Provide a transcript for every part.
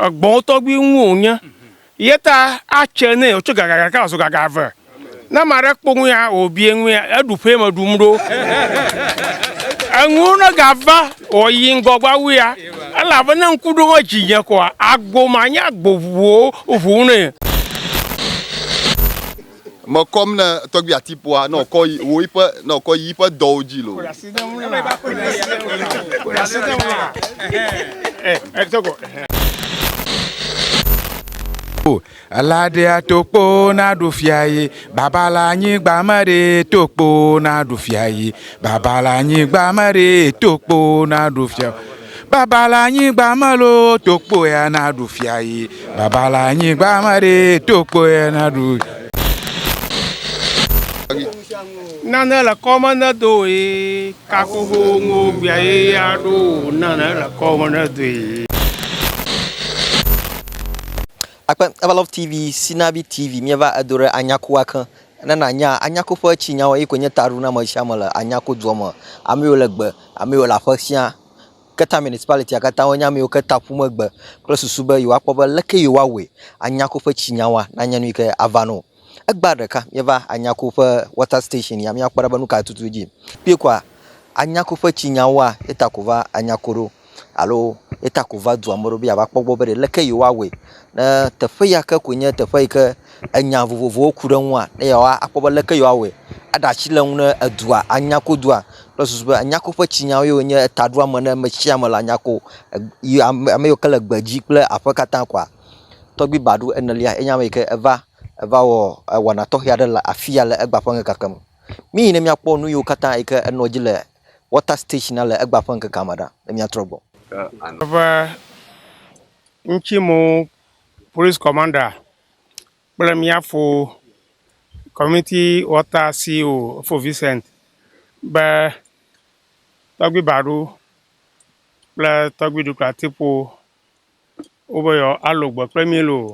egbɔ̃wo tɔgbi ŋu wònye. Ye ta atsɛ nɛ wòtso gaga ɖeka wòazu gaga eve. Ne ame aɖe kpɔ nu ya wòbia nua, eɖu ƒee me ɖum ɖo. Enuwo negava wɔ yi ŋgɔgba wu ya, elabe ne ŋku ɖo ɖe dzinye koa, agbo manye agbo ŋu o, ŋu nɛ. Me kɔm ne tɔgbi ati poa ne wòkɔ yi wò yiƒe ne wòkɔ yi yiƒe dɔwo dzi loo. O, elaɖea tokpo naɖu fia ye, baba le anyigba meɖe tokpo naɖu fia ye, baba le anyigba meɖe tokpo naɖu fia. Baba le anyigba me loo, to kpo ya naɖu fia yi. Baba le anyigba me ɖe, to kpo ya naɖu. Nane le kɔme ne do ye kakuku ŋu gbea ye ya ɖo nane le kɔme ne do ye. Akpe Evalov TV, Sinavi TV, mieva edo ɖe anyakuwa ke. ne nànya, anya ku ƒe tsi nyawo ye koe nye taɖo na amesiame le anya ku dua me. Ame yiwo le gbe, ame yiwo le aƒe sia, Keta Municipality katã wonye ame yiwo Keta ƒu megbe kple susu be yewoakpɔ be leke yewoawɔe anya ku ƒe tsi nyawoa nanye nu yi ke ava na wo. Egbea ɖeka míeva anya ku ƒe water station ya míakpɔ ɖa be nu kae tutu dzi yim. Kpɔe kɔa, anya ku ƒe tsi nyawoa ye ta ko va anya ku ɖo. alo ye ta ko va dua me ɖo be yeava kpɔ gbɔ be ɖeleke yewoawɔe ne teƒe ya ke koe nye teƒe yi ke enya vovovowo ku ɖe eŋua ne yewoa akpɔ be leke yewoawɔe aɖe asi le ŋu ne edua anya ko dua kple susu be anya ko ƒe tsinyawo ye wonye etaɖoame ne ame sia ame la anya ko e yi ame ame yiwo ke le gbedzi kple aƒe katã kɔa. Tɔgbui Badu enelia enye ame yi ke eva eva wɔ ewɔna tɔxɛ aɖe le afi ya le egba ƒe ŋkeke me. Míyi ne míakpɔ nu yiwo katã yi ke enɔ edzi le Water stage na le egba ƒe ŋkekea me ɖa be miatrɔ gbɔ. Eve ŋtsi mo police commander kple mía fo community water CO fo Vincent be tɔgbi baɖo kple tɔgbi ɖukla tipo wo be yɔ alo gbe kple mí loo.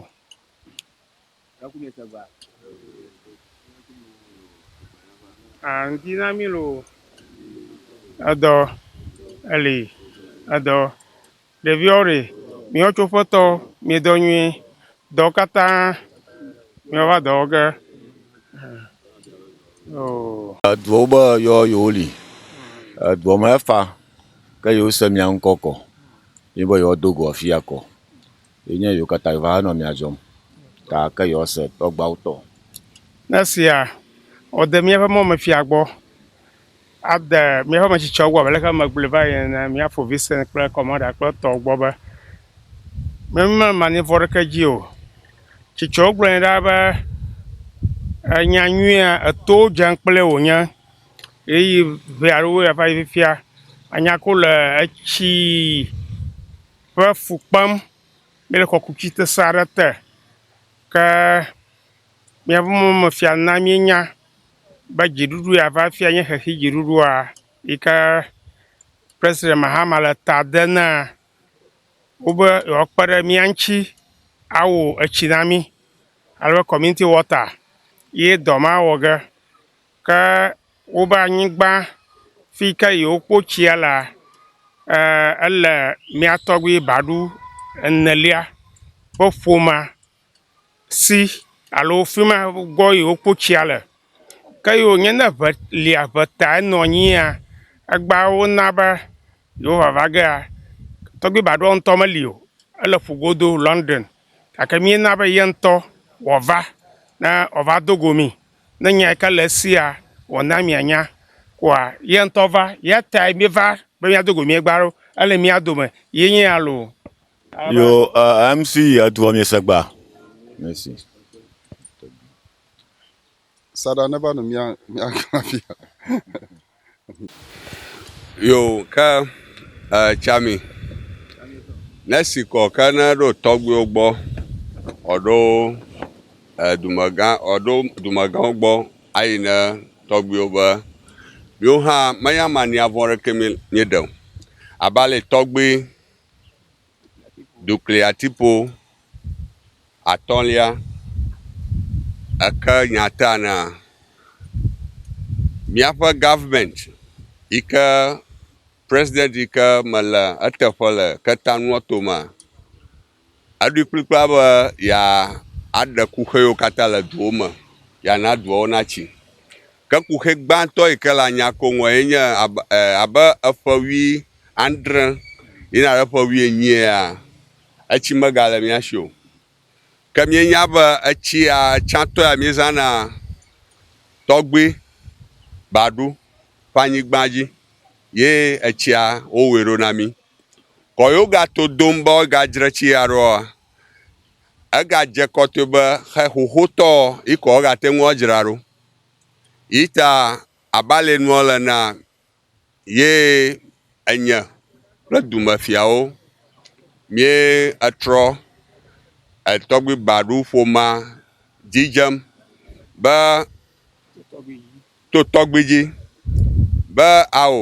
Ah, ŋdi na mí loo. Edɔ eli edɔ. Ɖeviwo ɖe miwo tso ƒetɔ miedɔ nyuie. Dɔ katã miwova dɔ wɔ ge. Oh. Eduwo be yɔ yewo li. Edɔ me efa ke yewo se mia ŋkɔ kɔ. Ye be yewo do go afia kɔ. Ye nye yewo katã va nɔ mia dzɔm ta ke yewoa se tɔgbuawo tɔ. Ne sia wò de miaƒe mɔ me fia gbɔ ade miaƒe me tsitsɔ wu abe leke eme gblɔe va yi ene, mia ƒo Vincent kple Commander kple etɔwo gbɔ be, mi me ma nivɔ ɖeke dzi o. Tsitsɔwo gblɔ nɛ ɖaa be, enya nyuia etowo dzem kple wò nye ɣeyiɣi ʋɛ alo ɣeyiɣi va yi fifia anya ko le etsi. ƒe fu kpem. Míele kɔkuti sesẽ aɖe te. Ke míaƒe mɔmefia na míenya be dziɖuɖu ya va fia nye xexi dziɖuɖua yi ke Presidɛnti Mahama le ta dem na wo be yewoakpe ɖe mía ŋuti awo etsi na mí alo kɔminiti wɔta ye dɔ mawɔ ge. Ke wobe anyigba fi yi ke yewokpo tsia lea, ele mía tɔgbui baɖu enelia ƒe ƒomea si alo fi ma gbɔ yi wokpo tsia le. Ke ye wònye ne ŋe lia ŋe ta enɔ anyia, egbea wona be yewoava va gea, tɔgbui baɖua ŋutɔ meli o, ele ƒu godo London gake míena be ye ŋutɔ wòava ne wòava do go mí. Ne nya ka le esia wɔm na mianya koa, ye ŋutɔ va, ya tae míeva be míado go miegba ɖo. Ele mía dome ye nye ya loo. Yo MC edua mi segba. Merci. Saɖa neva nu mía mía glã fia. Yo ke tsami nesi kɔ ke ne ɖo tɔgbuiwo gbɔ ɔɖo dumegã ɔɖo dumegãwo gbɔ ayi ne tɔgbuiwo be yewo hã meyama niavɔ ɖeke mi mi ɖe o. Abale tɔgbui Dukliatiƒo atɔ̃lia, eke nya tea na míaƒe government yi ke president yi ke me le eteƒe le keteanuɔ to mea, eɖoe kplikpaa be yeaɖe kuxiwo katã le duwo me, yeana duawo natsi. Ke kuxi gbãtɔ yi ke le anya ko ŋua ye nye abe eƒe wui andre yina ɖe ƒe wui enyiea, etsi megale mía si o. Ke míenya be etsia tsãtɔ ya míezãna tɔgbui baɖu ƒe anyigba dzi ye etsia wowɔe ɖo na mí. Kɔ yewogato dom be woagadzre tsi ya ɖoa, egadze kɔtɔe be xe xoxotɔ yi ko wogate ŋu adzra ɖo. Yi ta abalɛ nua le na ye enye kple dumefiawo míe etrɔ etɔgbi baɖu ƒomea dzi dzem be to tɔgbi dzi be ao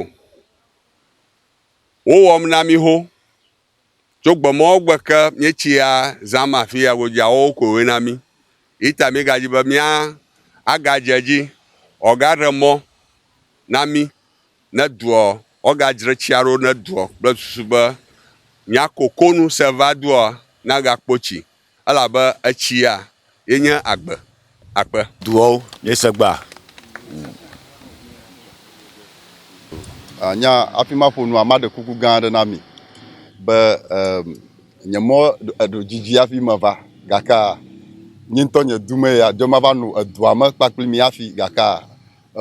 wowɔm na mí ho. Tso gbemɔwo gbe ke míetsia zãm afi ya godzia, wowo koe wona mí. Eyi ta míegadzi be mía agadze edzi woagaɖe mɔ na mí ne doɔ, woagadzre tsia ɖo ne doɔ kple susu be mía kokonu se va doa nagakpo tsi Elabe etsia ye nye agbe. Akpe. Duɔwo, miese gbea? Nya, nya hafi maƒo nua, maɖe kuku gã aɖe na mi be em, nye mɔ eɖo didi hafi meva, gakea nye ŋutɔ nye du mee ya dzo mava no edua me kpakple mi hafi, gakea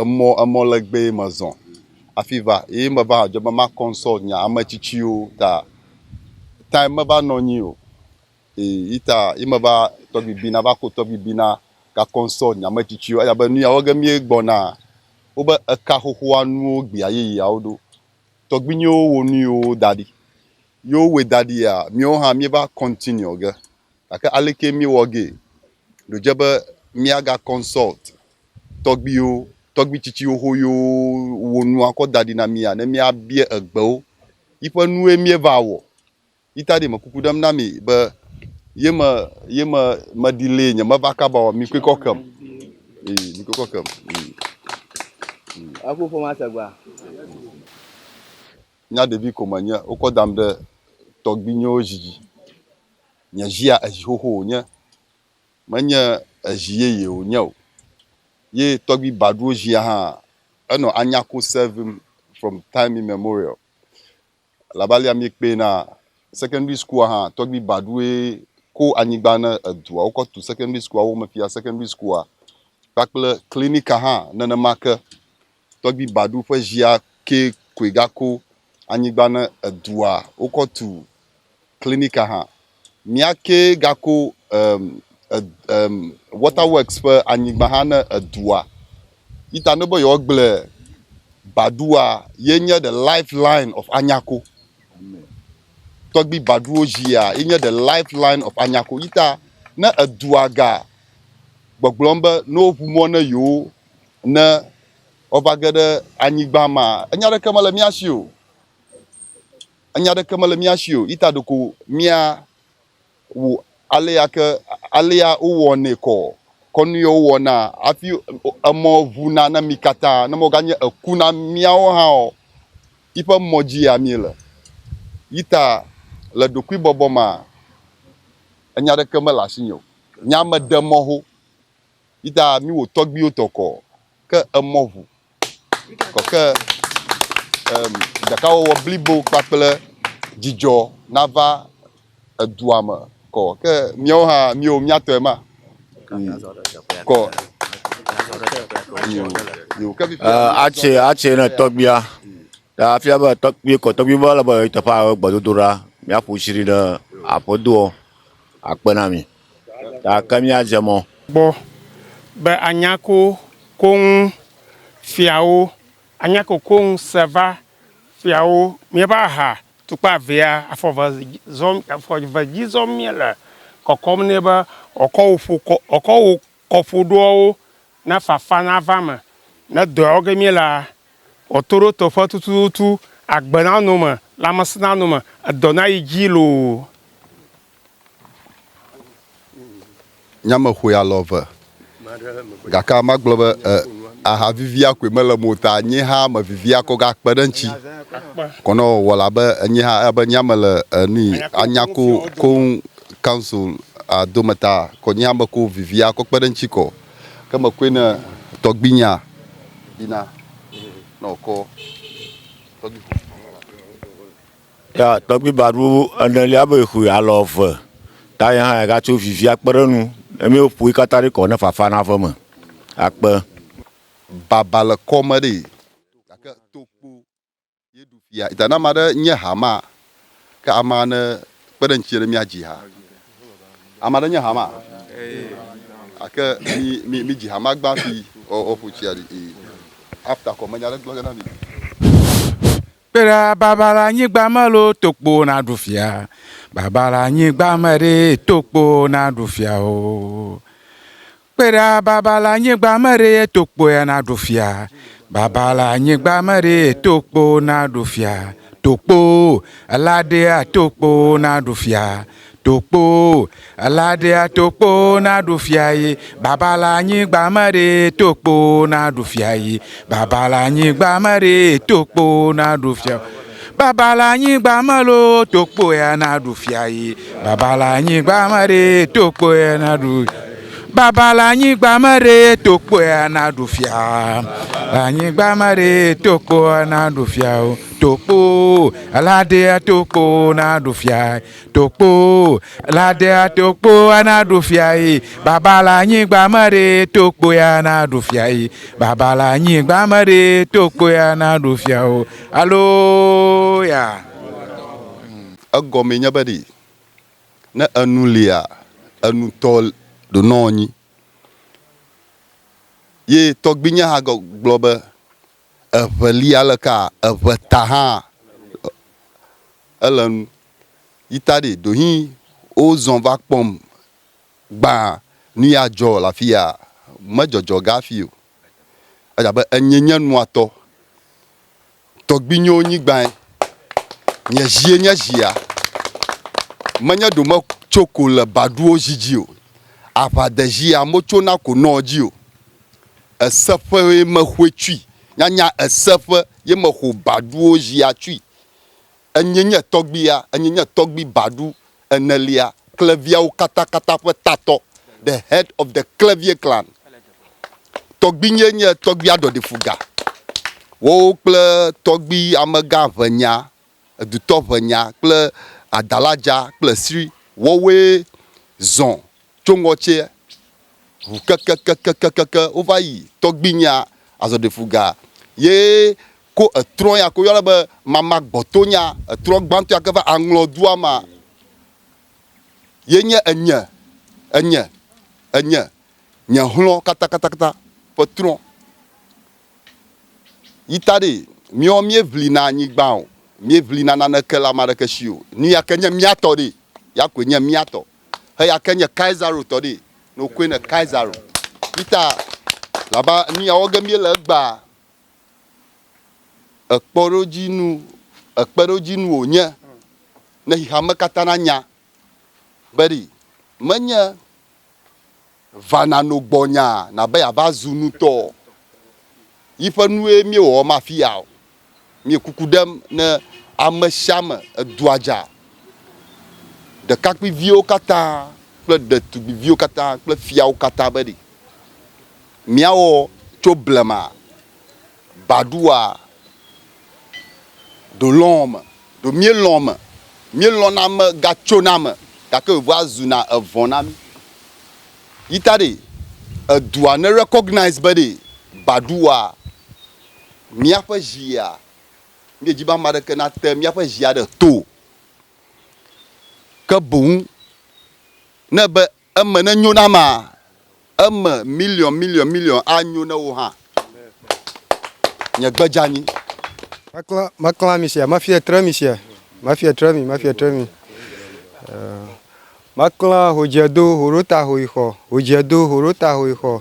emɔ, emɔ legbee mezɔ hafi va eye meva hã dzo be ma consult nye ame tsitsiwo ta time meva nɔ anyi o. Yita yi me va tɔgbi bina va ko tɔgbi bina gakɔn sɔ nyame tsitsi aya be nuya wɔge mie gbɔna wobe eka xoxoa nuwo gbia yeyeawo ɖo tɔgbinyewo wo nuyiwo da ɖi yewo wɔ da ɖi ya miewo hã mie va continue ge gake aleke mie wɔ ge ɖo dze be mia ga consult tɔgbiwo tɔgbi tsitsi xoxo yewo wo nua kɔ da ɖi na mia ne mia bie egbewo yiƒe nue mie va wɔ yi ta ɖi me kuku ɖem na mi be ye me ye me meɖi lee nye meva kaba o mi kpekɔ kem ee mi kpekɔ kem ee. Eku ƒoma segba. Nya ɖevi ko menye wokɔ dam ɖe tɔgbuinyewo zi dzi. Nye zia ezi xoxo wònye menye ezi yeye wònye o ye tɔgbui baɖuwo zia hã enɔ anya ko sevim from time immemorial. Elabe alea miekpee na secondary school hã, tɔgbi baɖue ko anyigba ne edua wokɔ tu secondary school wo me fia secondary school kpakple clinica hã nenema ke. Tɔgbi baɖu ƒe zia ke koe gako anyigba ne edua wokɔ tu klinika hã. Mía kee gako em e em water works ƒe anyigba hã ne edua. Yi ta ne be yewoagble Badua ye nye the life line of Anyako. Tɔgbi Baduwo zia ye nye the life line of Anyako. Yi ta ne edua ga gbɔgblɔm be ne woŋu mɔ ne yewo ne woava ge ɖe anyigba ma, enya aɖeke mele mía si o. Enya aɖeke mele mía si o, yi ta ɖeko míawu alea ke alea wowɔnɛ kɔ kɔnu ye wowɔna hafi emɔ ʋu na na mí katã. Ne mɔ ganye eku na míawo hã ɔ, yiƒe mɔ dzi ya míele. Yi ta le ɖokuibɔbɔ mea, enya aɖeke mele asinye o. Nye ame ɖe mɔ ho. Yi ta míwo tɔgbiwo tɔ kɔ ke emɔ ʋu. kɔke em, ɖekawɔwɔ blibo kpakple dzidzɔ nava edua me kɔ. Ke míawo hã míwo míatɔe ma. Kɔ. Yo, yo, ke fifia Eh, míazɔ atse ɖe- atse ne tɔgbia ta afia be tɔgbi kɔ tɔgbi be ele be teƒe awo gbedodo ɖa míaƒo tsi ɖi ne aƒedoɔ akpe na mi gake míadze mɔ. Gbɔ, be anya ko koŋ fiawo, anya ko koŋ seva fiawo, míeƒe aha tukpa vea, afɔ ve zɔ, afɔ ve dzi zɔm míele, kɔkɔm nɛ be wòakɔ wò ƒo kɔ, wòakɔ wò kɔƒoɖoawo ne fafa nava eme, ne dɔawo ge míelea, wòato ɖe teƒe tututu, agbe nanɔ eme, lãmesẽ nanɔ eme, edɔ nayi dzi loo. Nya me xoe alɔ eve. Gake ame agblɔ be e, aha vivia koe mele mo ta. Nye hã me vivia kɔ ga kpe ɖe ŋuti. Kɔ ne wɔwɔ la be enye hã ebe nya me le enui anya ko koŋ council a do me ta. Kɔ nye hã me ko vivia kɔ kpe ɖe ŋuti kɔ. Ke me koe ne tɔgbinya bina nɔ kɔ. Ya tɔgbi ba ɖu ene lia be xui alɔ ve. Ta ya ha ga tso vivi akpe ɖe nu. Emi o pui kata ɖi kɔ ne fafa na ve me. Akpe. Baba le kɔ me ɖi. Gake to kpo ye ɖu fia. Ita na ma ɖe nye ha ma ke ama ne kpe ɖe ŋtsi ne mia dzi ha. Ama ɖe nye ha ma. Ake mi mi mi dzi ha ma gba fi o o ƒu tsia ɖi. After kɔ me nya ɖe gblɔ ge na mi. Kpe ɖa baba la nyigba me lo tokpo na ɖu fia. Baba la nyigba me ɖe tokpo na ɖu fia o. Kpe ɖa baba la nyigba me ɖe tokpo ya na ɖu fia. Baba la nyigba me ɖe tokpo na ɖu fia. Tokpo, ela ɖea tokpo na ɖu fia. Tokpo, elaɖea tokpo na ɖu fia yi, baba la anyigba me ɖe tokpo na ɖu fia yi, baba la anyigba me ɖe tokpo na ɖu fia yi. Baba la anyigba me lo tokpo ya na ɖu fia yi, baba la anyigba me ɖe tokpo ya na ɖu fia yi. Baba la anyigba me ɖe tokpo ya na ɖu fia yi, baba la anyigba me ɖe tokpo ya na ɖu fia yi. Tokpoo, Ladea tokpoo naɖu fiae. Tokpoo, Ladea tokpoa naɖu fiae. Baba le anyigba me ɖe, tokpo ya naɖu fiae. Baba le anyigba me ɖe, tokpo ya naɖu fia o. Aloya. Egɔme nye be ɖe, ne enu lia, enutɔ ɖonɔ anyi. Ye tɔgbinyea hã gblɔ be, Eŋe li aleka eŋe ta hã ele nu yita ɖi ɖohi wo zɔn va kpɔm gbã nu ya dzɔ le afi ya me dzɔdzɔ ga fi o ela be enye nye nua tɔ tɔgbi nyo nyi gbã nye zie nye zia me nye ɖo me tso ko le ba ɖuwo zi dzi o aʋa de zia mo tso na ko nɔ dzi o. Ese ƒe ye me xoe tsui. Nyanya ese ƒe ye me xo baɖuwo zia tsui. Enyee nye tɔgbuia, enyee nye tɔgbui baɖu enelia, kleviawo katakata ƒe tatɔ, the head of the Klevie clan. Tɔgbuinyee nye tɔgbuia ɖɔɖifuga. Wowo kple tɔgbui amegã ʋenya edutɔʋenya kple adaladza kple sri wɔwɔe zɔ tso ŋɔtse ʋu kekekekekeke wova yi tɔgbinyea azɔɖefuga ye ko etrɔ ya ko yɔna be mama gbɔtonya etrɔ gbãtɔ ya ke va aŋlɔ dua ma ye nye enye enye enye nye hlɔ katatakata ƒe trɔ Yi ta ɖee, míawo míeʋlina anyigba o, míeʋlina naneke le ame aɖeke si o. Nu ya ke nye mía tɔ ɖee, ya koe nye mía tɔ. Eya ke nye Kaisaro tɔ ɖee, ne wokɔe ne Kaisaro. Yi ta abe nu ya wɔ ge míele egbea, ekpɔɖodzinu, ekpeɖodzinu wònye ne xexeame katã nanya be ɖi menye Va na no gbɔnya nabe yava zu nutɔ o. Yiƒe nue mie wɔwɔm afiya o. Mie kuku ɖem ne ame sia me edua dza. Ɖekakpui viwo katã kple ɖetugbi viwo katã kple fiawo katã be ɖi mia wɔ tso blema. Baɖoa, ɖo lɔ̃ me, ɖo míelɔ̃ me. Míelɔ̃na me gatsona me gake wòvea zuna evɔ̃ na mí. Yi ta ɖee, edua ne recognize be ɖee, Baɖoa, míaƒe zia, míedzi be ame aɖeke nate míaƒe zia ɖe to o. Ke boŋ ne be Eme nenyo na amea. Eme miliɔn miliɔn miliɔn anyo na wò hã. Nye gbe dzeanyi. Meklã, meklã mi sia. Mefia tre mi sia. Mefia tre mi, mefia tre mi. Meklã hodziedo, hoɖota, hoyixɔ, hodziedo, hoɖota, hoyixɔ.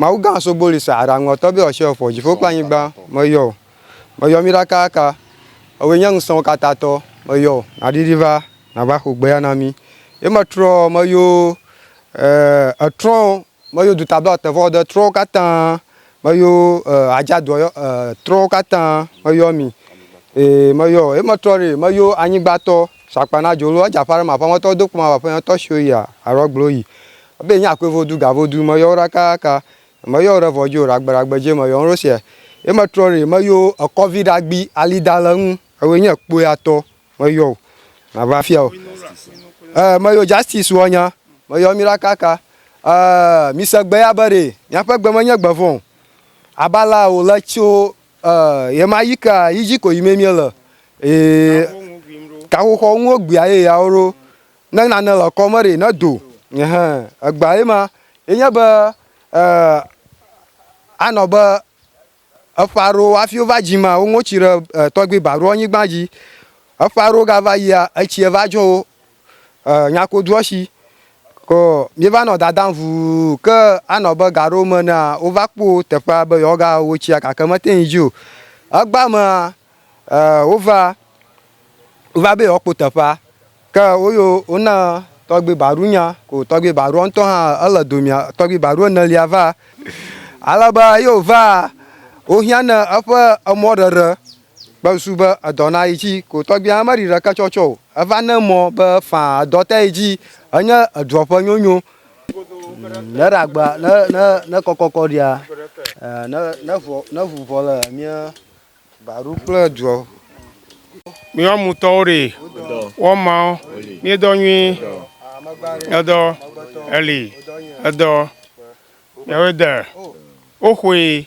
Mawu gã sogboli sa aɖa ŋɔtɔ be ɔsɛ ɔfɔ dziƒo kple anyigba meyɔ o meyɔ mi ɖakaka ewɔe nye ŋusẽwo katã tɔ meyɔ o naɖiɖi va nava xo gbeya na mi ye metrɔ meyo e etrɔ meyo duta be ɔtevɔ ɔde trɔwo katã meyo e adza dua yɔ e trɔwo katã meyɔ mi e meyɔ ye metrɔ ɖi meyo anyigba tɔ sakpa na dzolo edza ƒa ɖe ma ƒa ŋɔtɔ do kpɔ ma va ƒe ŋɔtɔ siwo yia arɔ gblo yi Abe nya koe vo du ga vo du me yɔ ɖa ka ka me yɔ ɖe vɔ dzi o ɖa gbe ɖa gbe dzi me yɔ ŋɖo sia ye me trɔ ɖi me yɔ ekɔ vi ɖa gbi ali da le ŋu ewe nye kpoe atɔ me yɔ o na va fia o e me yɔ justice wɔ nya me yɔ mi ɖa ka ka e mi se gbe ya be ɖe mia ƒe gbe me nye gbe vɔ abala o le tso e ye ma yi ka yi dzi ko yi me mi le e kaxoxɔ ŋu gbia ye ya wo ɖo Ne nane le kɔ me ɖi ne do ehe egba ye ma ye nye be eh, anɔ be eƒe aɖewo hafi wova dzi ma woŋo tsi ɖe eh, tɔgbi ba ɖo anyigba dzi eƒe aɖewo gava yia etsi eva dzɔ wo eh, nyakodoɔ si ko míeva nɔ dadam vuu ke anɔ be gaɖewo me na wova kpo teƒea be yewoagawo tsia gake mete ŋu dzi o egba mea Ɛɛ, wova, wova be yewoakpɔ teƒea. Ke woyo wona tɔgbui Baɖu nya, ko tɔgbui Baɖua ŋutɔ hã ele domea, tɔgbui Baɖu enelia va. Ale be eyi wòva, wohiã nɛ eƒe emɔɖeɖe kple susu be edɔ na yi tsi. Ko tɔgbuia meɖi ɖeke tsɔ tsɔ o. Eva ne mɔ be faa edɔ te yi tsi. Enye edua ƒe nyonyo. Ne ɖe agba, ne, ne, ne kɔkɔkɔ ɖia, ɛɛ, ne, ne ŋu, ne ŋu vɔ le mía Baruk kple duɔ. Míawo mutɔwo ɖe wɔ mawo míedɔ nyui edɔ eli edɔ yɛwoe de woxoe.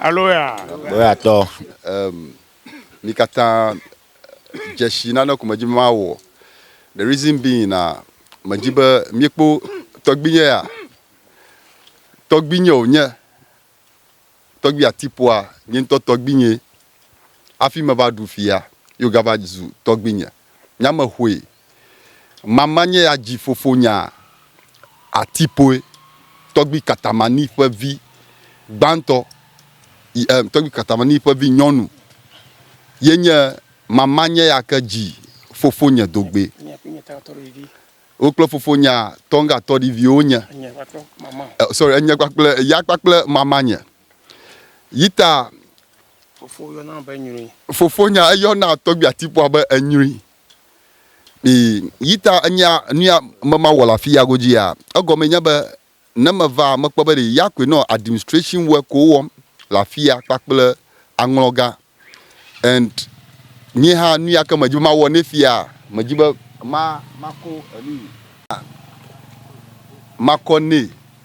Aleluya! Aleluya-tɔ, em, mi katã dze si nane ko medi be mawɔ. The reason being na medi be miekpɔ tɔgbinye ya. Tɔgbinye wònye. Tɔgbui Atipoa nye ŋutɔ tɔgbinyee. Hafi meva ɖu fia ye wògava zu tɔgbinye. Nye ame hoe Mama nye ya dzi fofonya Atipoe, tɔgbui Katamani ƒe vi gbãtɔ, y em, tɔgbui Katamani ƒe vi nyɔnu ye nye Mama nye ya ke dzi fofonye dogbɛ. Wo kple fofonya Tonga tɔɖiviwo nye, eh, sorry, enye kpakple, ya kpakple Mama nye. Yi ta Fofo yɔna be nyruin. Fofonya eyɔna tɔgbui Atipoa be enyruin. Ii, Yita nya nuya me mawɔ le afi ya godzia? Egɔmee nye be ne meva mekpɔ be ɖe ya koe nɔ administration workwo wɔm le afi ya kpakple aŋlɔga and nye hã nuya ke medzi be mawɔ nɛ fia medzi be ma makɔ enu makɔ nɛ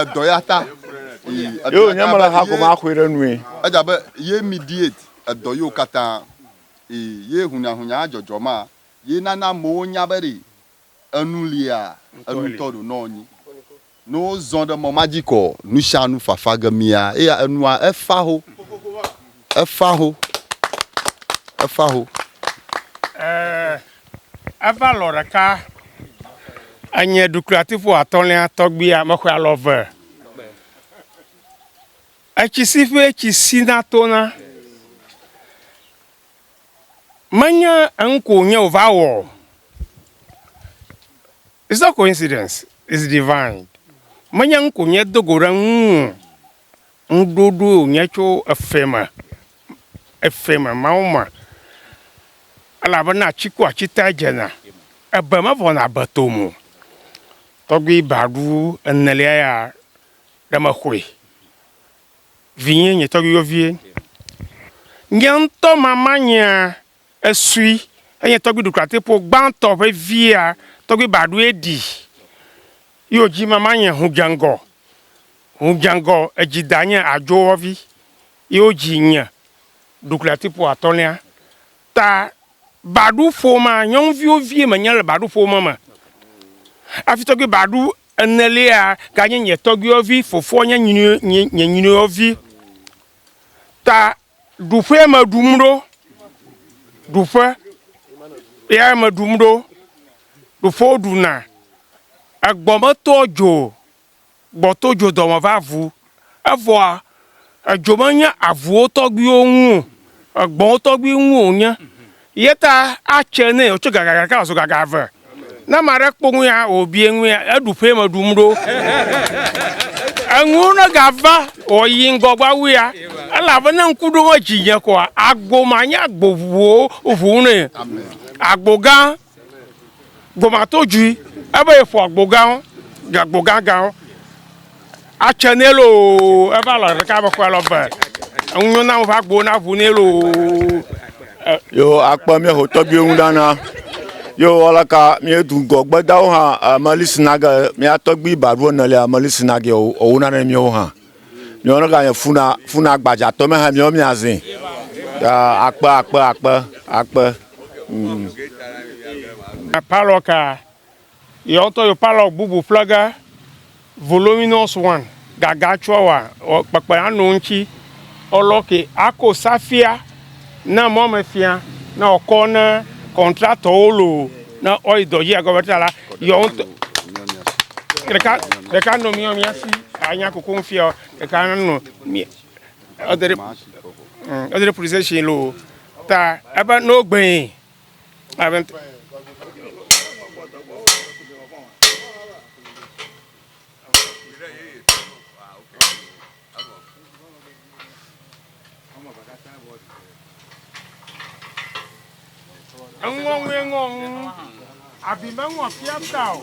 edɔ ya ta yóò nya mele ha gɔme axɔe ɖe nue edze abe ye mediate edɔ yiwo katã ye hunyahunya adzɔdzɔ ma ye nana amewo nya be ɖi enu lia enutɔ ɖo nɔ nyi. Nɔ wo zɔn ɖe mɔ ma dji kɔ nushanu fafa ge mia eya enua efa ho, efa ho, efa ho. Eee, eva lɔ ɖeka enye ɖukli atiƒo atɔlia tɔgbia mexɔe alɔ ve. Etsi si ƒe etsi si na tona. Menye enu ko wònye wòva wɔ o. It's not coincidence, it's divine. Menye enu ko wònye do go ɖe eŋu o. Ŋuɖoɖoe wònye tso efɛ me, efɛ me, Mawu me. Elabena atsi ku atsi tae dzena, ebe mevɔna ebe tome o. Tɔgbui baɖu enelia ya, ɖe mexɔe. Vinye, nye tɔgbuiyɔvie, nye ŋutɔ mama nyea esui enye tɔgbui ɖuklatɛƒo gbãtɔ ƒe via tɔgbui baɖoe ɖi yo dzi mama nye hudzeŋgɔ hudzeŋgɔ edzi da nye adzowɔvi yo dzi nye ɖuklatɛƒo atɔlia Ta, baɖu ƒomea, nyɔnuviwo vie menye le baɖu ƒome me. Afi tɔgbi baɖu enelia ganye nye tɔgbiwo vi, fofoa nye nye nyiniwo vi. Ta ɖuƒee me ɖum ɖo, ɖuƒe ya me ɖum ɖo, ɖuƒe woɖuna, egbɔ me tɔa dzo. gbɔ to dzo dɔme va vu. Evɔa, edzo menye avuwo tɔgbuiwo ŋu o, egbɔ̃wo tɔgbui ŋu wònye. Ye ta atse nɛ wòtso gaga ɖeka wòzu gaga eve. Ne ame aɖe kpɔ nu ya wòbia nua, eɖu ƒee meɖu nu ɖo. Enuwo ne gava wòyi ŋgɔgbe wu ya, elabe ne ŋku ɖom edzinye koa, agbo manye agbo ŋuwo ŋu nɛ. Agbo gã Gomato djui ebe yeƒo agbo gã wo ɖe agbo gã gã wo atsɛ nɛ loo ebe alɔ ɖeka be kɔe lɔ be enu nyo na wo va agbo na ʋu nɛ loo. Yo akpe mía ho tɔgbiwo ŋu ɖa na. Yo alaka mía du gɔ gbedawo hã Meli Sinage mía tɔgbi ba ɖu ene lea Meli Sinage wo wo na ne mía wo hã. Miɔ ne ganye funa funa gbadza tɔ me ha miɔ mia zin. Akpe akpe akpe akpe. Mm. Palɔ ka yɔ tɔ yɔ palɔ bubu plege voluminous one gaga tsɔ wa kpekpe anu ŋtsi ɔlɔ ke ako safia. Na mɔmefia na wòkɔ ne kɔntratɔwo loo ne woayi dɔ dzi agɔme ta la, yewo ŋutɔ ɖeka ɖeka nɔ mía mía si anya koko ŋufia o, ɖeka nɔ mía ede ɖe ede ɖe police station loo ta ebe ne wogbee abe. Eŋɔŋue ŋɔ ŋu. Abi meŋɔ fia ta o.